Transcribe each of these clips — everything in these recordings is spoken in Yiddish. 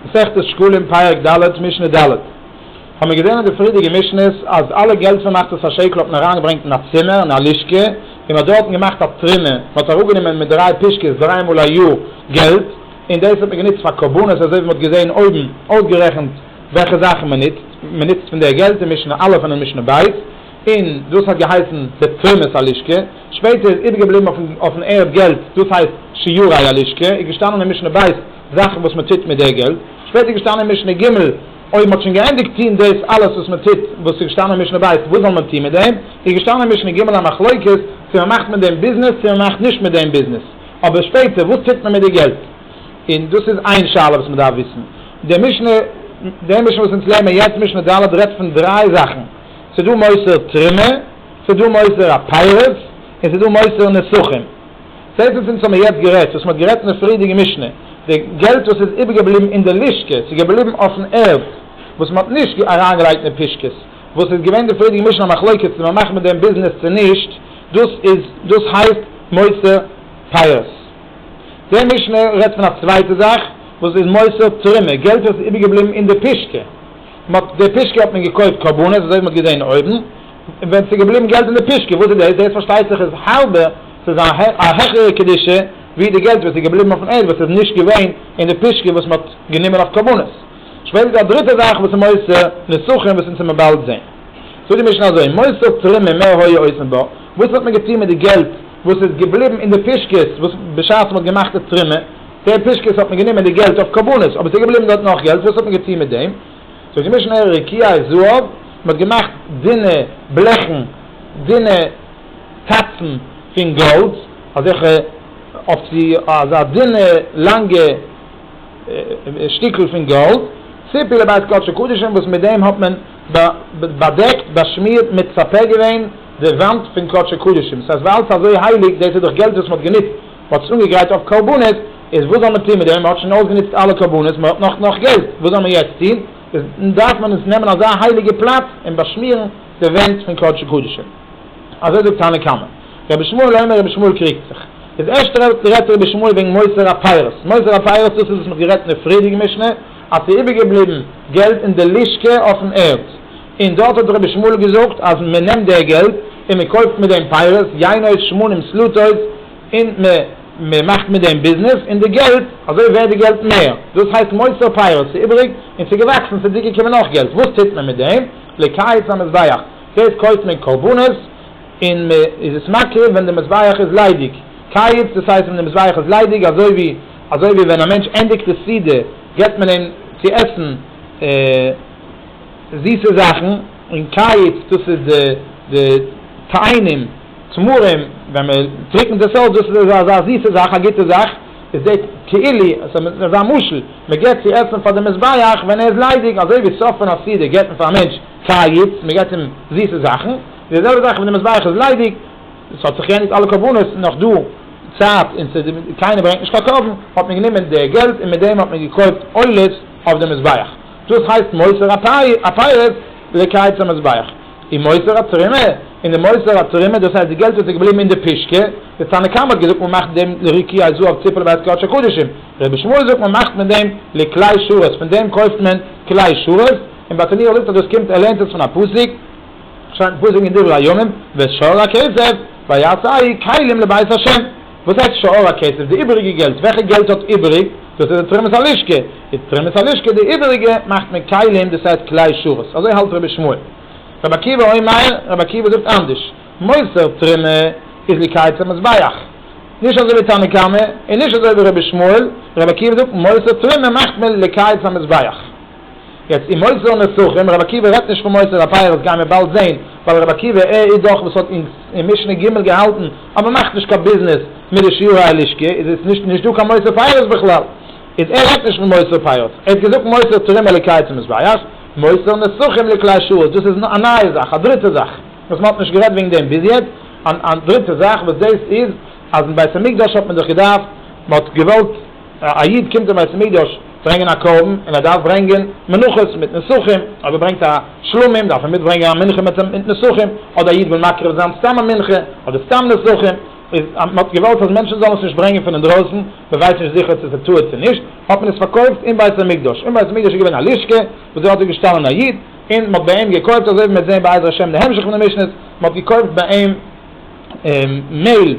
מסכת שקלים פרק ד' משנה ד', האמיר געזען אין די פריערדיגע משנות אז אלע געלט פון מחצית השקל האט מען אריין געברענגט אין א צימער אין א לשכה און מען האט דארטן געמאכט א טרימע, מען האט אראפ גענומען מיט דריי פישקעס דריי מאל א יאר געלט און דאס האט מען גענוצט פאר קרבנות אזוי ווי מען האט געזען אויבן אויסגערעכנט וועלכע זאכן מען נוצט, מען נוצט פון די געלט אין משנה א' און אין משנה ב' און דאס האט געהייסן די תרומות הלשכה, שפעטער איז איבערגעבליבן אויפן ערד געלט דאס הייסט שיעורי הלשכה איז געשטאנען אין משנה ב'. זאכן וואס מען טוט מיט די געלט, שפעטער איז געשטאנען אין משנה ג, אויב מען האט שוין געענדיגט טון דאס אלעס וואס מען טוט, וואס איז געשטאנען אין משנה ב', וואס זאל מען טון מיט דעם, איז געשטאנען אין משנה ג א מחלוקת, צו מען מאכט מיט דעם ביזנעס, צו מען מאכט נישט מיט דעם ביזנעס, אבער שפעטער וואס טוט מען מיט די געלט, און דאס איז איין שאלה וואס מען דארף וויסן, די משנה, די משנה וואס אונז לערנען יעצט משנה ד' רעדט פון דריי זאכן, ס'דא מוסר תרומה, ס'דא מוסר הפירות, און ס'דא מוסר נסכים. צעטלס אונז האבן מיר יעצט גערעדט וואס מען האט גערעדט אין די פריערדיגע משנה, די געלט וואס איז איבערגעבליבן אין די לשכה, ס'איז געבליבן אויפן ערד וואס מען האט נישט אריינגעלייגט אין פישקעס, וואס איז געווען די פריערדיגע משנה א מחלוקת צו מען מאכט מיט דעם ביזנעס צו נישט, דאס איז דאס הייסט מוסר פירות. די משנה רעדט פון א צווייטע זאך וואס איז מוסר תרומה, געלט וואס איז איבערגעבליבן אין די פישקע. מ'האט די פישקע האט מען געקויפט קרבנות אזוי ווי מ'האט געזעהן אויבן, און ווען ס'איז געבליבן געלט אין די פישקע, וואס איז דאס? דאס פארשטייט זיך איז האלבע, ס'איז א העכערע קדושה ווי די געלט וואס איז געבליבן אויפן ערד וואס איז נישט געווען אין די פישקע וואס מ'האט גענומען אויף קרבנות. שפעטער איז דא א דריטע זאך וואס איז מוסר נצחון וואס אונז וועמער באלד זעהן. זאגט די משנה אזוי, מוסר תרומה מה היה עושה בה, וואס האט מען געטוהן מיט די געלט וואס איז געבליבן אין די פישקעס וואס בשעת מ'האט געמאכט די תרומה, דער פושקעס האט מען גענומען די געלט אויף קרבנות, אבער ס'איז געבליבן דארט נאך געלט, וואס האט מען געטון מיט דעם? ס'האט געמישן אור רקיע און זהב, מען האט געמאכט דינע בלעכן, דינע טאצן פון גאלד, אזעלכע אויף צו אזא דינע לאנגע שטיקל פון גאלד, ציפי לבית קדשו קדשים, וואס מיט דעם האט מען באדעקט, באשמירט, מצפה געווען די וואנט פון קדשו קדשים, ס'הייסט ווייל ס'איז אזוי הייליג, דאס איז דאך געלט וואס מען האט גענוצט, מ'האט זיך אנגעגרייט אויף קרבנות, איז וואס זאל מען טון מיט דעם? מ'האט שוין אויסגענוצט אלע קרבנות, מ'האט נאך נאך געלט, וואס זאל מען יעצט טון? איז דארף מען עס נעמען אזא הייליגע פלאץ און באשמירן די ווענט פון קדשי קדשים. אזוי זאגט תנא קמא. רבי שמואל אומר רבי שמואל קריגט זיך. איז ערשט רעדט רבי שמואל וועגן מוסר הפירות. מוסר הפירות דאס איז וואס מ'האט גערעדט אין די פריערדיגע משנה, אז ס'איז איבערגעבליבן געלט אין די לשכה אויפן ערד, און דארט האט רבי שמואל געזאגט אז מען נעמט די געלט און מען קויפט מיט דעם פייערס, יינות, שמנים, סלוטות, און מען מאכט מיט דעם ביזנעס, און די געלט, אזוי ווערט די געלט מער, דאס הייסט מוסר פייערס, ס'איז איבעריג און ס'איז געוואקסן, ס'איז צוגעקומען נאך געלט, וואס טוט מען מיט דעם? לקיץ המזבח, דאס קויפט מען קרבנות און מען איז עס מקריב ווען די מזבח איז ליידיג, קיץ דאס הייסט ווען די מזבח איז ליידיג, אזוי ווי אזוי ווי ווען א מענטש ענדיגט די סעודה געבט מען אים צו עסן, זיסע זאכן, און קיץ דאס איז די די טעינים, תמרים, ווען מען טריקענט עס אויס דאס איז אזא אזא זיסע זאך א גוטע זאך, איז די תהילי עס איז אזא משל, מען געבט צו עסן פאר די מזבח ווען ער איז ליידיג, אזוי ווי סוף פון א סעודה געבט מען פאר א מענטש קיץ, מען געבט אים זיסע זאכן, די זעלבע זאך ווען די מזבח איז ליידיג, עס האט זיך געענדיגט אלע קרבנות, נאך דא צייט און ס'איז קיינער ברענגט נישט קיין קרבן, האט מען גענומען די געלט און מיט דעם האט מען געקויפט עולות אויף די מזבח. דאס הייסט מוסר הפירות לקייץ המזבח, און מוסר התרומה, און די מוסר התרומה דאס הייסט די געלט וואס איז געבליבן אין די פישקע, די תנא קמא האט געזאגט מען מאכט דעם לריקי הזהב ציפעלע בית קדש הקדשים, רבי שמואל זאגט מען מאכט מיט דעם לכלי שרת, פון דעם קויפט מען כלי שרת, און ביי תניאור זאגט אז דאס קומט ער לערנט עס פון א פסוק, שטייט אין פסוק אין דברי הימים ואת שאר הכסף ויעש אהי' כלים לבית השם. וואס הייסט שאר הכסף? די איבעריגע געלט? וועלכע געלט האט איבעריג? דאס איז די תרומת הלשכה. די תרומת הלשכה די איבעריגע מאכט מען כלים דאס הייסט כלי שרת. אזוי האלט רבי שמואל. רבי עקיבא אומר, רבי עקיבא זאגט אנדערש. מוסר תרומה איז לקייץ המזבח. נישט אזוי ווי תנא קמא, און נישט אזוי ווי רבי שמואל. רבי עקיבא זאגט מוסר תרומה מאכט מען לקייץ המזבח. יעצט אין מוסר נצחים, רבי עקיבא רעדט נישט פון מוסר התורה, דאס גייען מיר באלד זעהן, ווייל רבי עקיבא עה איז דאך וואס האט אונז אין משנה ג' געהאלטן אז מען מאכט נישט קיין ביזנעס מיט די שיעורי הלשכה, איז איז נישט נישט דא קיין מוסר תורה בכלל, איז ער רעדט נישט פון מוסר תורה, ער האט געזאגט מוסר תורה מעליקאי צום מזבח, מוסר נצחים לכלי שרת, דאס איז א נייע זאך, א דריטע זאך, וואס מען האט נישט גערעדט וועגן דעם ביז יעצט, א דריטע זאך וואס דאס איז אז אין בית המקדש האט מען זיך געדארפט, מען האט געוואלט. א איד קומט אין בית המקדש ברענגען א קרבן און ער דארף ברענגען מנחות מיט נסכים, אויב ער ברענגט א שלמים דארף ער מיטברענגען א מנחה מיט נסכים, אדער א איד וויל מקריב זיין סתם א מנחה אדער סתם נסכים, איז אז מען האט געוואלט אז מענטשן זאלן עס נישט ברענגען פון אינדרויסן, מען ווייסט נישט זיכער צו עס איז טעות צו נישט, האט מען עס פארקויפט אין בית המקדש, אין בית המקדש איז געווען א לשכה וואס דארט איז געשטאנען א איד און מען האט ביי אים געקויפט, אזוי ווי מען וועט זען בעזר השם אין די המשך פון די משנה'ס, מען האט געקויפט ביי אים. מעל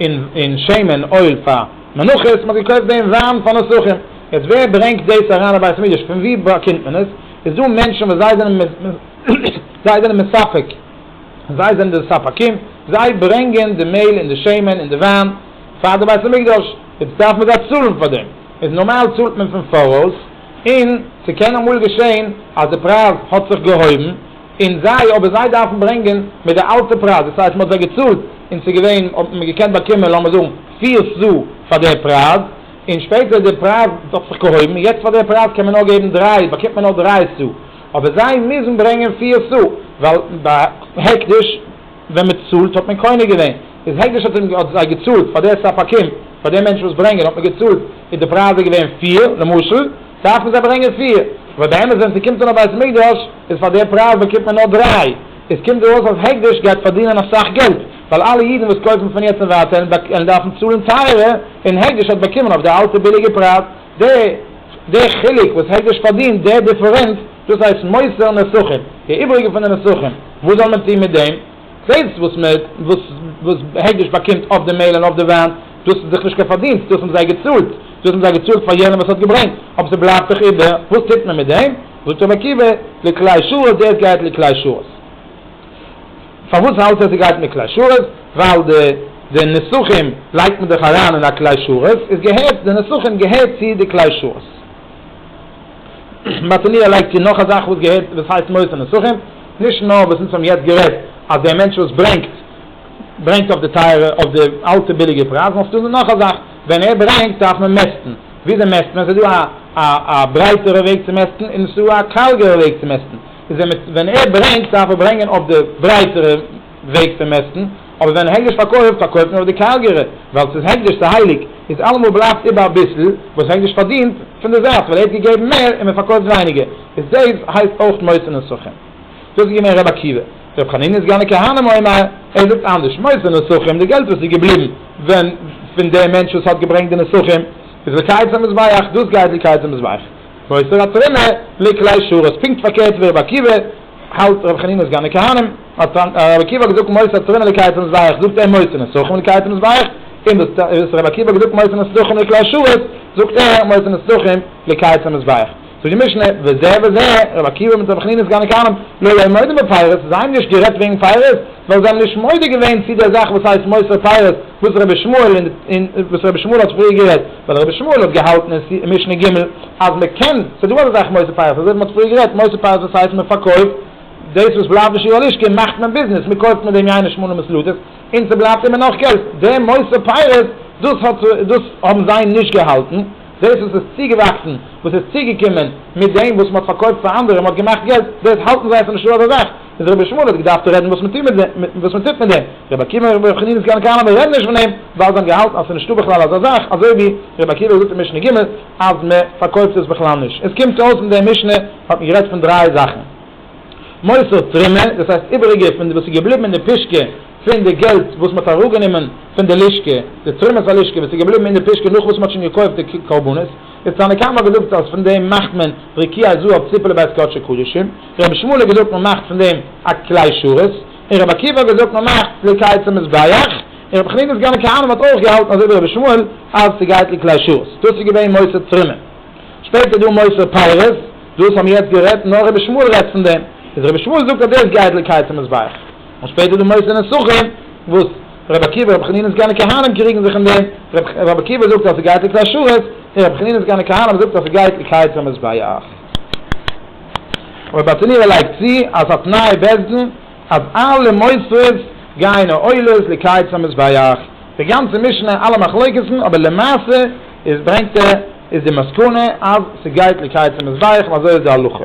און שמן אויל פאר מנחות, מען האט געקויפט דעם וויין פאר נסכים, יעצט ווער ברענגט דאס אריין אין בית המקדש, פון וואו באקומט מען עס, איז דא מענטשן וואס זיי זענען זיי זענען מספק, זיי זענען די ספקים, זיי ברענגען די מעל און די שמן און די וויין פאר די בית המקדש, יעצט דארף מען זיי צאלן פאר דעם, איז נארמאל צאלט מען פון פאראויס, און ס'קען אמאל געשען אז די פרייז האט זיך געהויבן, און זיי, אבער זיי דארפן ברענגען מיט די אלטע פרייז, דאס הייסט מען האט זיי געצאלט און ס'איז געווען, האט מען געקענט באקומען לאמיר זאגן פיר ס א פאר די פרייז, און שפעטער איז די פרייז האט זיך געהויבן, און יעצט פאר די פרייז קען מען נאר געבן דריי, באקומט מען נאר דריי ס א, אבער זיי מוזן ברענגען פיר ס א, ווייל ביי הקדש ווען מען צאלט האט מען קונה געווען, איז הקדש האט אים, האט זיי געצאלט פאר די ספקים, פאר די מענטשן וואס ברענגען האט מען געצאלט, איז די פרייז איז געווען פיר, למשל. דארפן זיי ברענגען פיר, וואס די אמת ווען ס'קומט אן א בית מקדש איז פאר די פרייז באקומט מען נאר דריי, עס קומט דא אויס אז הקדש גייט פארדינען אסאך געלט, ווייל אלע אידן וואס קויפן פון יעצט און ווייטער וועלן דארפן צאלן טייערער, און הקדש האט באקומען אויף די אלטע ביליגע פרייז, די די חילוק וואס הקדש פארדינט, די דיפערענץ, דאס הייסט מוסר נסכים, די איבריגע פון די נסכים, וואס זאל מען טון מיט דעם? זעלבסט וואס מען וואס וואס העדש באקומט אויף די מעהל און אויף די וויין, דאס איז דאך נישט קיין פארדינסט, דאס האבן זיי געצאלט, דאס האבן זיי געצאלט פאר יענעם וואס האט געברענגט, אבער ס'בלייבט דאך איבער, וואס טוט מען מיט דעם? זאגט רבי עקיבא, לכלי שרת, דער עס גייט לכלי שרת. פארוואס האלט ער ס'גייט מיט כלי שרת? ווייל די די נסכים לייגט מען דאך אריין אין א כלי שרת, איז געהערט די נסכים געהערט צו די כלי שרת. מתניהו לייגט צו נאך א זאך וואס געהערט וואס הייסט מוסר נוסחים, נישט נאר וואס אונז האבן יעצט גערעדט אז דער מענטש וואס ברענגט ברענגט אויף די טייערע אויף די אלטע ביליגע פרייזן נאר ס'דא נאך א זאך ווען ער ברענגט דארף מען מעסטן, וויאזוי מעסט מען? ס'דא א א ברייטערע וועג צו מעסטן און ס'דא א קארגערע וועג צו מעסטן, איז ווען ער ברענגט דארף ער ברענגען אויף די ברייטערע. וועג פון מעסטן, אבער ווען הקדש פארקויפט, פארקויפט מען אויף די קארגערע, ווייל ס'איז הקדש, ס'איז הייליג, איז אלעמאל בלייבט איבער אביסל וואס הקדש פארדינט פון די זייט, ווייל ער האט געגעבן מער און מען פארקויפט ווייניגער, איז דאס הייסט אויך מוסר נסכים. דאס איז געווען ר' עקיבא. ר' חנינא איז געווען א כהנא מועמר, ער זאגט אנדערש, מוסר נסכים, די געלט וואס איז געבליבן ווען פון דעם מענטש וואס האט געברענגט די נסכים, איז לקייץ המזבח, דאס גייט לקייץ המזבח, מוסר התרומה לכלי שרת, פונקט פארקערט ווי ר' עקיבא. האלט רבי חנינא סגן די כהנים, האט רבי עקיבא געזאגט מוסר תורין אלי קייטענס ווייעך, זאגט ער מוסר נצחון אלי קייטענס ווייעך, און דאס וואס רבי עקיבא האט געזאגט מוסר נצחון אלי כלל שעות, זאגט ער מוסר נצחון אלי קייטענס ווייעך. זאגט די משנה, וזה וזה, רבי עקיבא מיט רבי חנינא סגן די כהנים, לא היו מודים בפיירות, זיי האבן נישט גערעדט וועגן פיירות, ווייל זיי האבן נישט מודה געווען צו דער זאך וואס הייסט מוסר פיירות, וואס רבי שמואל האט פריער גערעדט. ווייל רבי שמואל האט געהאלטן אין סי' משנה ג' אז מען קען, ס'איז דא אזא זאך מוסר פייערס, אזוי ווי מען האט פריער גערעדט, מוסר פייערס דאס הייסט מען פארקויפט דאס וואס בלייבט בשיר הלשכה מאכט מען ביזנעס, מען קויפט מיט דעם יין און שמנים און סלוטעס, און ס'בלייבט איבער נאך געלט, דעם מוסר פייערס דאס האט דאס האבן זיי נישט געהאלטן, דאס וואס איז צוגעוואקסן, וואס איז צוגעקומען מיט דעם וואס מען האט פארקויפט פאר אנדערע, מען האט געמאכט געלט, דאס האלטן זיי אז ס'איז נישטא אזא זאך. איז רבי שמואל האט געדארפט רעדן וואס מען טוט מיט דעם, וואס מען טוט מיט דעם, רבי עקיבא און רבי חנינא זקן קיינער מען רעדט נישט פון דעם, ווייל זיי האבן געהאלטן אז עס איז נישטא בכלל אזא זאך, אזוי ווי רבי עקיבא האט געזאגט אין משנה ג' אז מען פארקויפט עס בכלל נישט, עס קומט אויס אין דעם משנה האט מען גערעדט פון דריי זאכן, מוסר תרומה, דאס הייסט איבעריגע פון וואס איז געבליבן אין די פישקע פון די געלט וואס מען האט אראפגענומען פון די לשכה, די תרומת הלשכה וואס איז געבליבן אין די פישקע נאך וואס מען האט שוין געקויפט די קרבנות. די תנא קמא האט געזאגט אז פון דעם מאכט מען רקיע זהב ציפעלע בעת קדשי קדשים, רבי שמואל האט געזאגט מען מאכט פון דעם א כלי שרת, און רבי עקיבא האט געזאגט מען מאכט ליקייט צום מזבח, און רבי חנינא סגן הכהנים האט אויך געהאלטן אזוי ווי רבי שמואל אז ס'גייט לכלי שרת. דאס איז געווען מוסר תרומה. שפעטער איז דא מוסר פירות, דאס האבן מיר יעצט גערעדט, נאר רבי שמואל רעדט פון דעם, איז רבי שמואל זאגט אז דאס גייט ליקייט צום מזבח, און שפעטער איז דא מוסר נסכים וואס. רבי עקיבא, רבי חנינא סגני כהנא קריגן זיך אין דעם, רבי עקיבא זאגט אז ס'גייט איקס השרת, און רבי חנינא סגני כהנא זאגט אז ס'גייט איקס היצר מזבח. און רבי אטענירא לייגט צו אז א תנאי בית דין אז אלע מוסרות גייען או עולות לקיץ המזבח. די גאנצע משנה אלע מחלוקת'ן אבער למעשה איז ברענגט ער איז די מסקנא אז ס'גייט לקיץ המזבח און אזוי איז די הלכה.